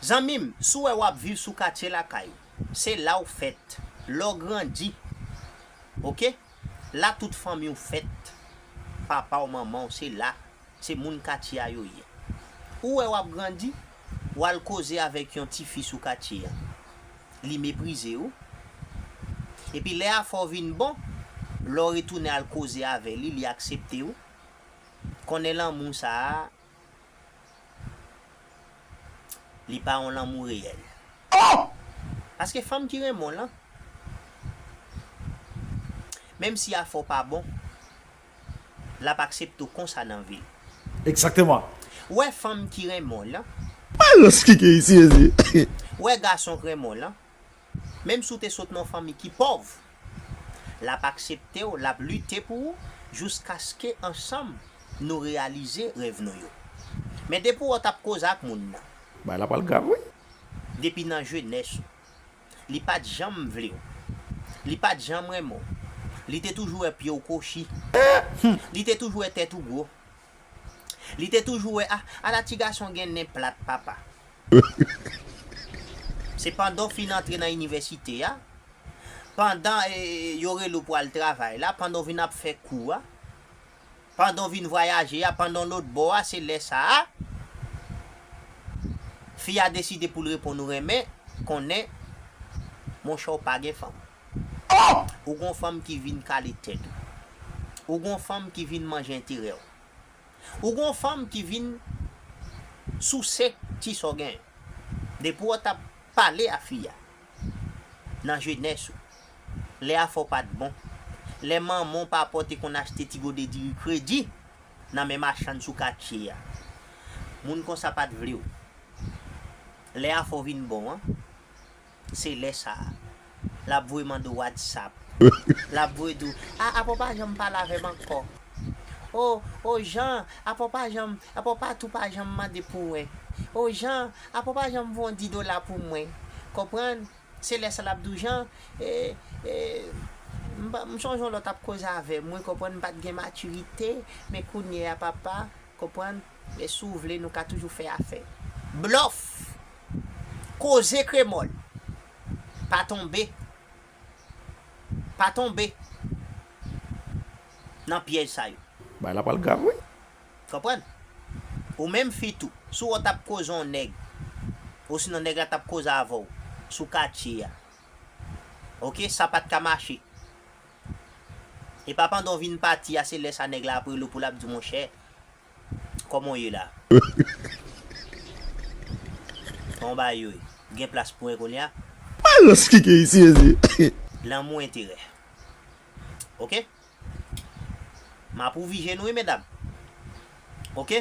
Zanmim si w wè wap viv sou katye lakay ou se la ou fèt lè w grandi ok la tout fanmi w fèt papa w manman w se la se moun katye a yo ye ou wè wap grandi w al koze avèk yon tifi sou katye an li meprize w epi lè afè w vin bon lè w retounen al koze avè li li aksepte w konnen lanmou sa Li pa yon lanmou reyèl. Oh! Paske fanm ki renmen w lan. Menm si afè w pa bon. L ap aksepte w konsa nan vi l. Exactement. Ou wè fanm ki renmen w lan. Malos ki gen isi mezye. Ou wè gason k renmen w lan. Menm si w te sot nan yon fanmi ki pòv, l ap aksepte w, l ap lite pou ou jouskaske ansanm nou reyalize rèv nou yo. Men depi w wè w t ap koze ak moun nan. Bagay la pral grav wi. Depi nan jenès ou. Li pa t janm vle w. Li pa t janm renmen w. Li te toujou wè pye w kwochi. Li te toujou wè tèt ou gwo. Li te toujou wè a, ala ti gason gen nen plat papa. Se pandan w fin antre nan inivèsite a, pandan yo rele w pou al travay la, pandan w vin ap fè kou a, pandan w vin vwayaje a, pandan w lotbò a, se lè sa a, fi a deside pou l reponn ou renmen, konnen, monchè w pa gen fanm. Oh! Ou gon fanm ki vin kale tèt ou. Ou gon fanm ki vin manje enterè w. Ou gon fanm ki vin souse ti sa w gen. Depi w tap pale a fi a nan jenès ou, lè afè w pat bon, lè manman w papa w te konn achte ti gode diri kredi nan men machann sou katye a, moun konsa pat vle w. Lè afè w vin bon an, Se lè sa a. Lap voye mande w whatsapp. Lap voye di w, ah apa w pa janm pale avè m ankò. Oh, oh Jean, apa w pa janm, apa w pa tou pa janm mande pou mwen. Oh Jean, apa w pa janm voye yon 10 dola pou mwen. Konprann? Se lè sa a lap di w, Jean, eh, eh, m sonje yon lè w tap koze avè m wi, konprann, m pat gen matirite, men kounye a papa, konprann. Men si w vle nou ka toujou fè afè. Blòf! Koze kremòl! Pa tonbe. Pa tonbe. Nan pyèj sa yo. Bagay la pral grav wi. Konprann? Ou menm fi tou. Si w wè w t ap koze yon nèg. Osinon nèg la t ap koze avè w. Sou katye a. Ok? Sa pa t ka mache. E pa pandan w vin pati a se lè sa nèg la ap rele w pou l ap di w monchè. Koman w ye la? Koman bagay yo ye? Ou gen plas pou 1 kounye a? Bagay yo spike isi mesye. Lanmou enterè. Ok. M ap ouvi je nou wi medam. Ok.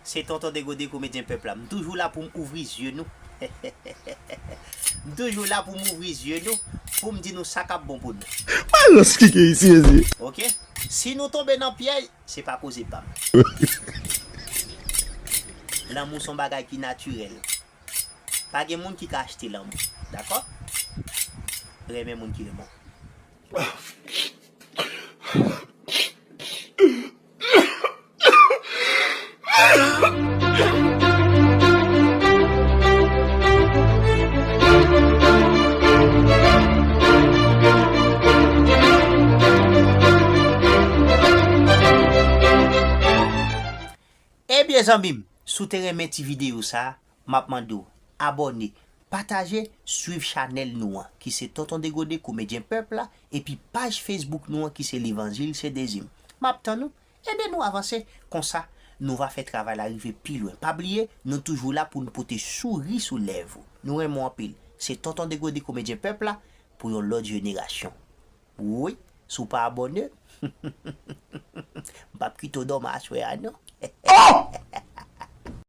Se Tonton Degode komedyen pèp la. M toujou la pou m ouvri zye nou. M toujou la pou m ouvri zye nou pou m di nou sa k ap bon pou nou. Bagay yo spike isi mesye. Ok. Si nou tonbe nan pyèj. Se pa koze pam. Lanmou son bagay ki natirèl. Pa gen moun ki ka achte lanmou. Dakò? Renmen moun ki renmen w. Ebyen zanmi m, si w te renmen ti videyo sa, m ap mande w abòne, pataje, swiv chanèl nou an ki se Tonton Degode, Komedyen Pèp la, epi paj Facebook nou an ki se Levanjil se Dezi m. M ap tann ou, Ede nou avanse, konsa nou va fè travay la rive pi lwen. Pa bliye, nou toujou la pou nou pote souri sou lèv ou. Nou renmen w anpil. Se Tonton Degode Komedyen Pèp la pou yon lòt jenerasyon. Woy, si w pa abòne, m p ap kite w dòmi aswè a non. Oh!